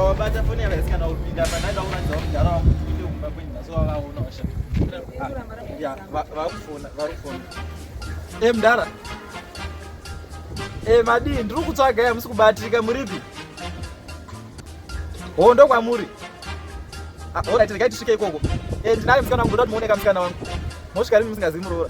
wabata foni yakaisi kana kupinda pandanga uratidza kugara wangu kuite kumba kwenyu nhasi wavaona washa vakufona vakufona e mdara e madii ndiri kutsvaga ya musi kubatika muripi ho ndo kwamuri orit regai tisvike ikoko e ndinayo musikana wangu ndoda kuti muoneka musikana wangu mosvika rimi musingazivi muroora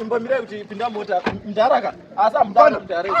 imbomira kuti pinda mota mdaraka asi amudana mdaraka